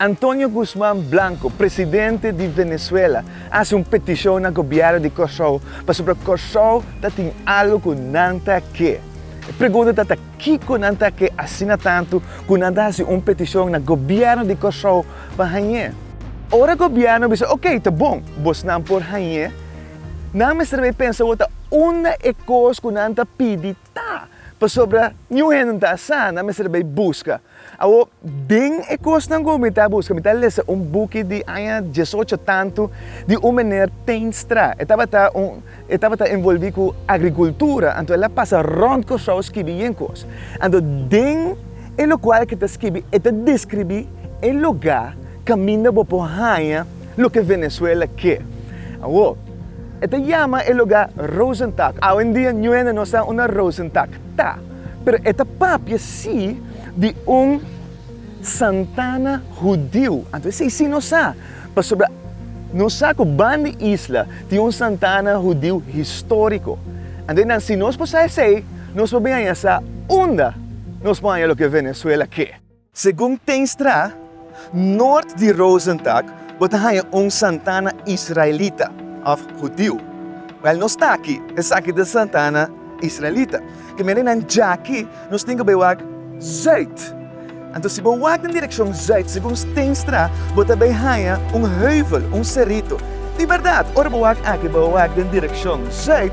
Antonio Guzman Blanco, presidente di Venezuela, a hasi un petishon na gobièrnu di Kòrsou pasobra Kòrsou ta tin algu ku nan ta ke. E pregunta ta ta kiko nan ta ke asina tantu ku nan ta hasi un petishon na gobièrnu di Kòrsou pa hañ'é? Ora gobièrnu bisa okey, ta bon, bosnan por hañ'é, nan mester bai pensa wòrdu ta unda e kos ku nan ta pidi Ta, pasobra niun hende no ta a sa nan mester bai buska. Awor, den e kosnan ku mi ta buska, mi ta lesa un buki di aña dies ocho tantu di un meneer Teenstra. E tabata un, e tabata envolvi ku agrikultura, anto el a pasa rònt Kòrsou skibi yen kos. Anto den e lokual ku e ta skibi, e ta deskribí e lugá kaminda bo por haña. Loke Venezuela ke. Awo, e ta yama e lugá Rosentak. Awendia ñuena no sa unda Rosentak ta, pero e ta papia sí di un Santana hudiu. Anto esei sí no sa, pasobra no sa ku ban di isla tin un Santana hudiu históriko. Anto nan si nos por sa esei, nos por bin haña sa unda nos por haña loke Venezuela ke. Segun Teenstra, noord di Rosendack bo ta haña un Santana israelita of hudiu. Wèl nos ta aki, esaki ta Santana israelita. Di manera nan djaki nos tin ke bai wak zuid. Anto si bo wak den direkshon zuid, segun Teenstra, bo ta bai haña un heuvel, un serito. Di bèrdat, ora bo wak aki, bo wak den direkshon zuid.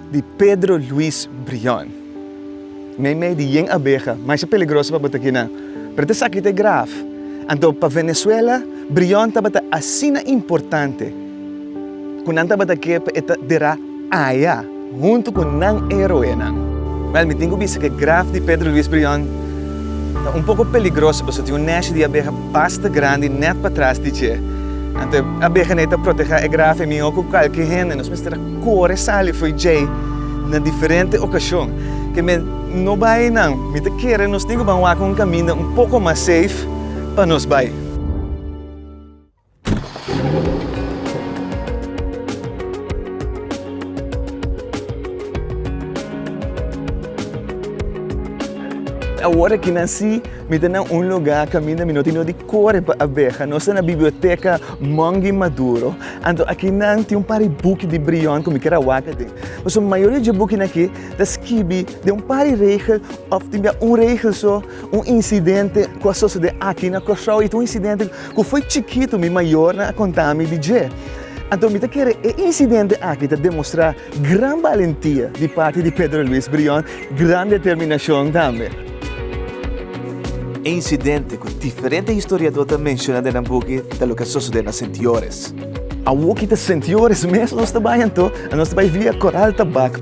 Di Pedro Luis Brion. Mei mei di yen abeha maisha peligroso pa bota kinan, pero ta esaki ta e graf. Anto pa Venezuela, Brion tabata asina importante ku nan tabata ke pa e ta dera aya huntu ku nan heroenan. Wèl, mi tin ku bisa ku e graf di Pedro Luis Brion ta un poko peligroso pasobra tin un nèshi di abeha basta grandi nèt patras di dje. Anto e abehanei ta protehá e graf, e mihó ku kualke hende. Nos mester a. Kore sali fo'i djei na diferente okashon. Ke men no bai nan, mi ta kere nos tin ku ban wak un kaminda un poko mas seif pa nos bai. Awor ki nan si, mi ta na un lugá kaminda mi no tin no di kore pa abeha. Nos ta na biblioteka Mongi Maduro. Anto aki nan tin un par di buki di brion ku mi kier a waka den. Pasobra mayoria di dje bukinan aki ta skibi den un par di regel òf tin bia un regel so, un insidente ku a sosodé aki na Kòrsou. I ta un insidente ku foi chikitu mi mayornan a konta mi di dje. Anto mi ta kere e insidente aki ta demostrá gran balentia di parti di Pedro Luis Brion. gran determinashon tambe. E insidente ku diferente historiadó ta menshoná den nan buki ta loke a sosodé na Sentiores. Awor ki ta Sentiores mes nos ta bai anto, a nos ta bai via Koral Tabak.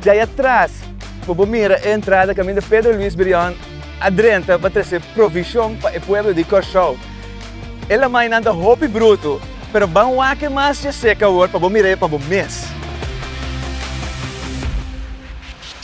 Djai atras, ku bo mira e entrada kaminda Pedro Luis Brion a drenta pa trese provishon pa e pueblo di Kòrsou. E lamainan ta hopi brutu, pero ban wak-e mas dje sek awor pa bo mira-e pa bo mes.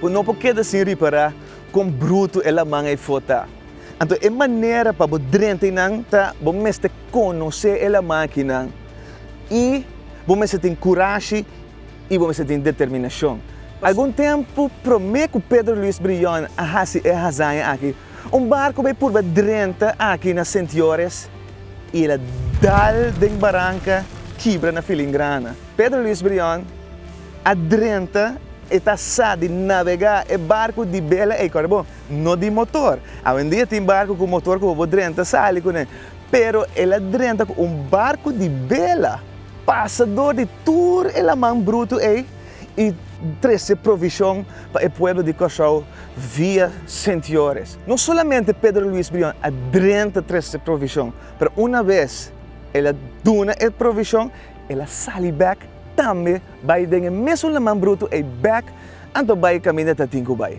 Bo no por keda sin ripará kon brutu e laman ei for ta. Anto e manera pa bo drenta einan ta bo mester konosé e laman akinan i bo mester tin kurashi i bo mester tin determinashon. Algun tempu promé ku Pedro Luis Brion a hasi e hazaña aki, Un barco bay purba drenta aki na Sint Joris y el a dal den baranca kibra na Filingrana. Pedro Luis Brion a drenta e ta sa di navega e barco di bela ey corda bo, no di motor. Awendia tin barco cu motor cu bobo drenta sali cune pero el a drenta cu un barco di bela. Pasa door di tur e laman bruto ey. i trese provishon pa e pueblo di Kòrsou via Sint-Joris. No solamente Pedro Luis Brion a drenta trese provishon, pero una bes el a duna e provishon, el a sali bèk tambe bai den e mesun laman brutu ei bèk anto bai kaminda ta tin ku bai.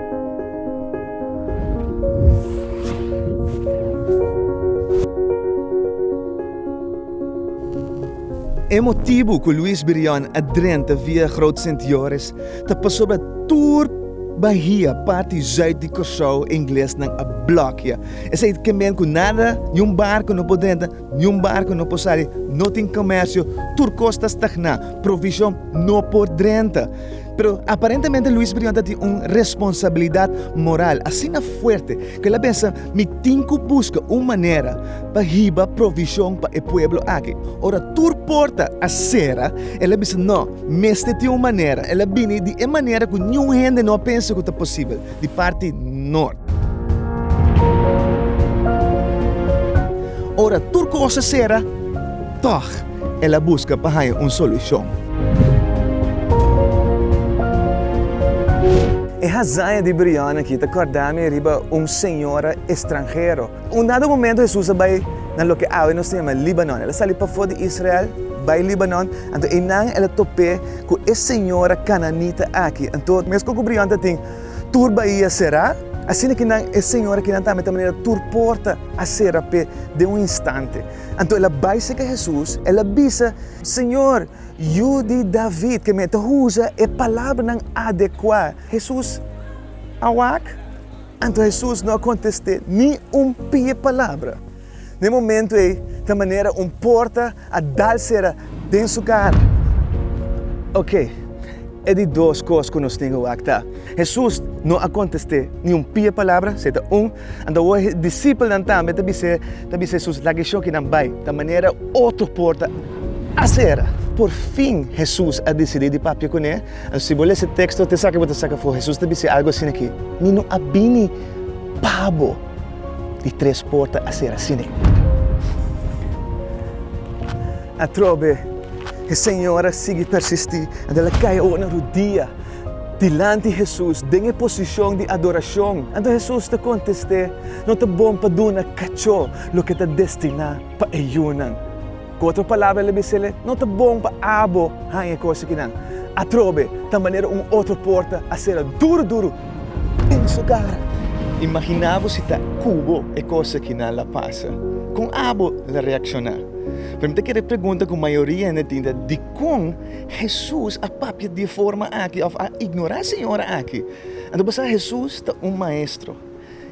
E motibu ku Luis Brion a drenta via Groot Sint Joris ta pasobra tur bahia parti zuid di Kòrsou e inglesnan a blòkia. Esei ta kenben ku nada, niun barku no por drenta, niun barku no por sali, no tin komèrsio, tur kos ta stagná, provishon no por drenta. Pero aparentemente Luis Brion ta tin un responsabilidat moral asina fuerte ku el a pensa, Mi tin ku buska un manera pa hiba provishon pa e pueblo aki. Ora tur porta a sera, el a bisa, No, mester tin un manera. El a bini di e manera ku niun hende no a pensa ku ta posibel, di parti nort. Ora tur kos a sera, tòg. el a buska pa haña un solushon. E hazaña di Brianne aki ta kòrda mi riba un señora estranhero. Un dado momentu Hesus a bai na loke awe nos ta yama Líbanon. El a sali pafó di Israel bai Líbanon. Anto einan el a top'é ku e señora kananita aki. Anto, meskos ku Brianne ta tin tur baia será, asina kinan e señora kinan tambe ta manera tur porta a sera p'e den un instante. Anto el a bai seke Hesus, el a bisa, Señor, Yu di David, ke mi ta usa e palabranan adekuá. Hesus a wak? Anto Hesus no a kontest'é ni un pia palabra. Na e momentu ei ta manera un porta a dal sera den su kara. Oke, e di dos kos ku nos tin ke wak ta, Hesus no a kontest'é ni un pia palabra, seta un, Anto e disipelnan tambe ta bis'é, ta bis'é, Hesus, laga e shoki nan bai, ta manera otro por ta asera. Por fin Hesus a disidí di papia kuné. Anto si bo lesa e teksto te esaki bo ta saka afó, Hesus ta bis'é algu asina ki, Mi no a bini pa bo di tres por ta asera asina. Atrobe e señora a sigui persistí, anto el a kai oor na rudia. dilanti Hesus den e posishon di adorashon. Anto Hesus ta kontest'é, No ta bon pa duna kachó loke ta destiná pa e yunan. Ku otro palabra el a bis'é, No ta bon pa abo haña e kos akinan. Atrobe, ta manera un otro porta a sera duru duru den su kara. Imaginá bo si ta ku bo e kos akinan la pasa. Kon abo la reakshoná? Pero mi ta kere pregunta ku mayoria hende tin ta, Dikon Hesus a papia di e forma aki òf a ignorá e señora aki? Anto bo sa Hesus ta un maestro.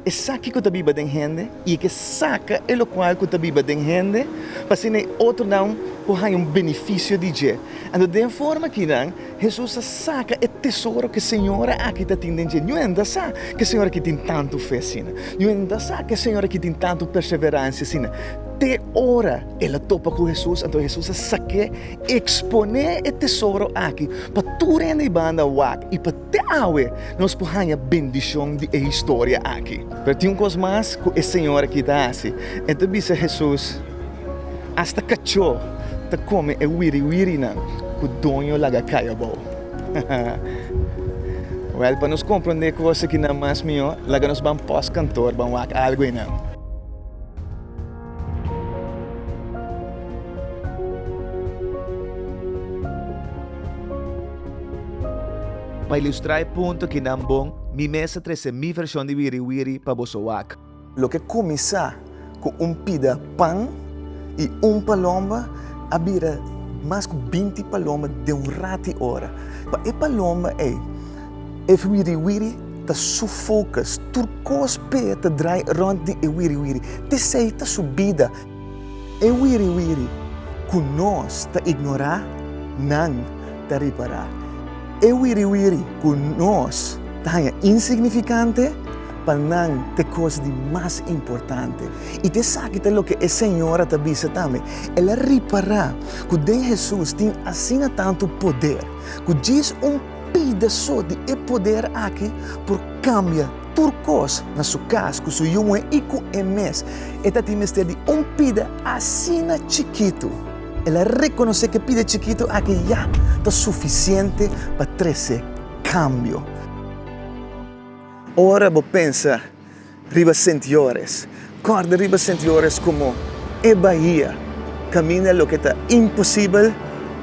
Esaki ku ta biba den hende i e ke saka e lokual ku ta biba den hende pa asina e otronan por haña un benefisio di dje. Anto den e forma akinan Hesus a saka e tesoro ku e señora aki ta tin den dje. Ñu hende a sa ku e señora aki tin tantu fe asina. Ñu hende a sa ku e señora aki tin tantu perseveransia asina te ora. El a topa ku Hesus, anto Hesus a sak'é, eksponé e tesoro aki pa tur hende di banda wak, i pa te awe nos por haña bendishon di e historia aki. Pero tin un kos mas ku e señor aki ta hasi. El ta bisa Hesus, Asta kachó ta kome e wiriwirinan ku doño laga kai abou. Wèl, pa nos komprondé e kos akinan mas mihó, laga nos ban pòs kantor ban wak algu einan. Pa ilustra e punto ki nan bon, mi mes a trese mi version di Wiri Wiri pa boso wak. Lo ke kuminsá ku un pida pan i un paloma a bira mas ku binti paloma den un rati ora. Pa e paloma ei. E wiriwiri ta su focus. Tur cos p'e ta draai rond di e wiriwiri. T'esey ta su bida. E wiriwiri cu nos ta ignorá, nan ta ripará. E wiriwiri cu nos ta haña insignificante, pa nan t'e cos di mas importante. I t'esaki ta loke e señora ta bisa tambe. El a ripará cu den Jesús tin asina tantu poder, cu djis un. Pida so di e poder aki por kambia tur kos na su kas ku su yu muhé i ku e mes. E ta tin mester di un pida asina chikitu. El a rekonosé ku e pida chikitu aki ya ta sufisiente pa trese kambio. Ora bo pensa riba sentiores. Kòrda riba sentiores komo e bahia kaminda loke ta imposibel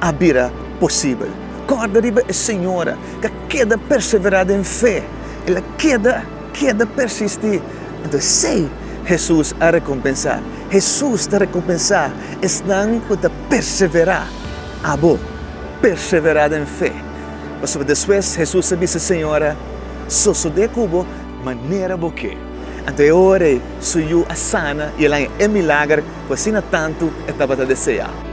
a bira posibel. Kòrda riba e señora ke a keda perseverá den fe, el a keda keda persistí. Anto esei Hesus a rekompensá. Hesus ta rekompensá esnan ku ta perseverá. Abo perseverá den fe. Pasobra despues Hesus a bisa e señora, Sosodé ku bo Manera bo ke. Anto e ora ei, su yu a sana i el a haña e milager ku asina tantu e tabata deseá.